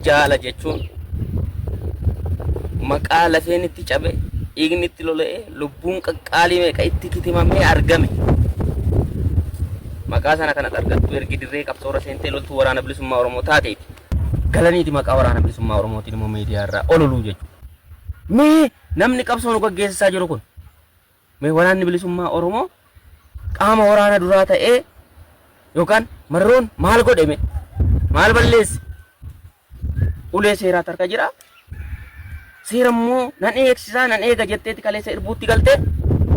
Jaala jechuun maqaa lafeen itti cabe, dhiigni itti lola'ee, lubbuun qaqqaalii meeqa itti kitimamee argame. Maqaa sana kanas argattu ergi dirree qabsoorra seentee loltuu waraana bilisummaa Oromoo taateeti. Galaniiti maqaa waraana bilisummaa Oromootiin immoo miidiyaa irraa ololuu jechuudha. Mee namni qabsoo nu gaggeessisaa jiru kun Mee Waraanni Bilisummaa Oromoo qaama waraana duraa ta'ee yookaan marroon maal godhe mee? Maal balleesse? Ulee seeraatu harka jira. Seera immoo nan eegsisaa nan eega jetteeti kaleessa irbuutti galtee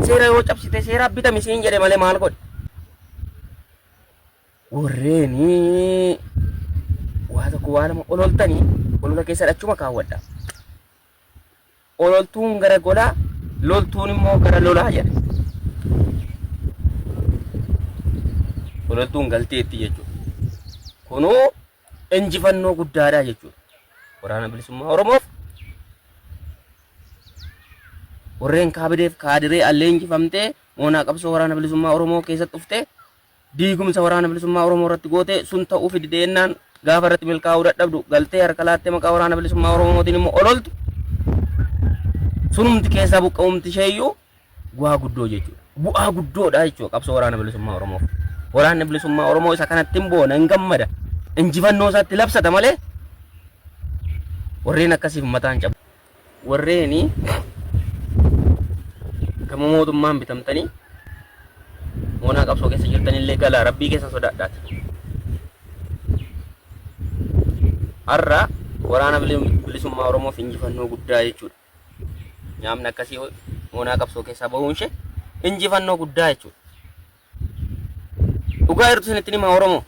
seera yoo cabsite seeraa bitami siin jedhe malee maal godhe? Warreeni waa tokko waa lama ololtanii olola keessa dhachuma kaawwadha. Ololtuun gara golaa, loltuun immoo gara lolaa jedha. Ololtuun galteetti jechuudha. Kunuu injifannoo guddaadha jechuudha. Waraana bilisummaa Oromoof warreen kaabideef kaadiree allee injifamtee moonaa qabsoo waraana bilisummaa Oromoo keessatti dhuftee Diigumsa Waraana Bilisummaa Oromoo irratti goote sun ta'uu fi dideennaan gaafa irratti milkaa'uu dadhabdu galtee harka laattee maqaa Waraana Bilisummaa Oromootiin immoo ololtu sunumti keessaa buqqa'umti isheeyyuu bu'aa guddoo jechuudha. Bu'aa guddoodha jechuudha qabsoo Waraana Bilisummaa Oromoof. Waraanni Bilisummaa Oromoo isa kanatti hin boona hin gammada. Injifannoo isaatti labsata malee warreen akkasiif mataan cabu. warreeni gama mootummaan bitamtanii moonaa qabsoo keessa jirtanillee galaa rabbii keessa sodaadhaati. Har'a waraana bilisummaa Oromoof injifannoo guddaa jechuudha. Nyaamni akkasii moonaa qabsoo keessaa bahuun ishee injifannoo guddaa jechuudha. Dhugaa jirtu isinitti himaa Oromoo.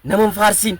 Nama hin faarsiin.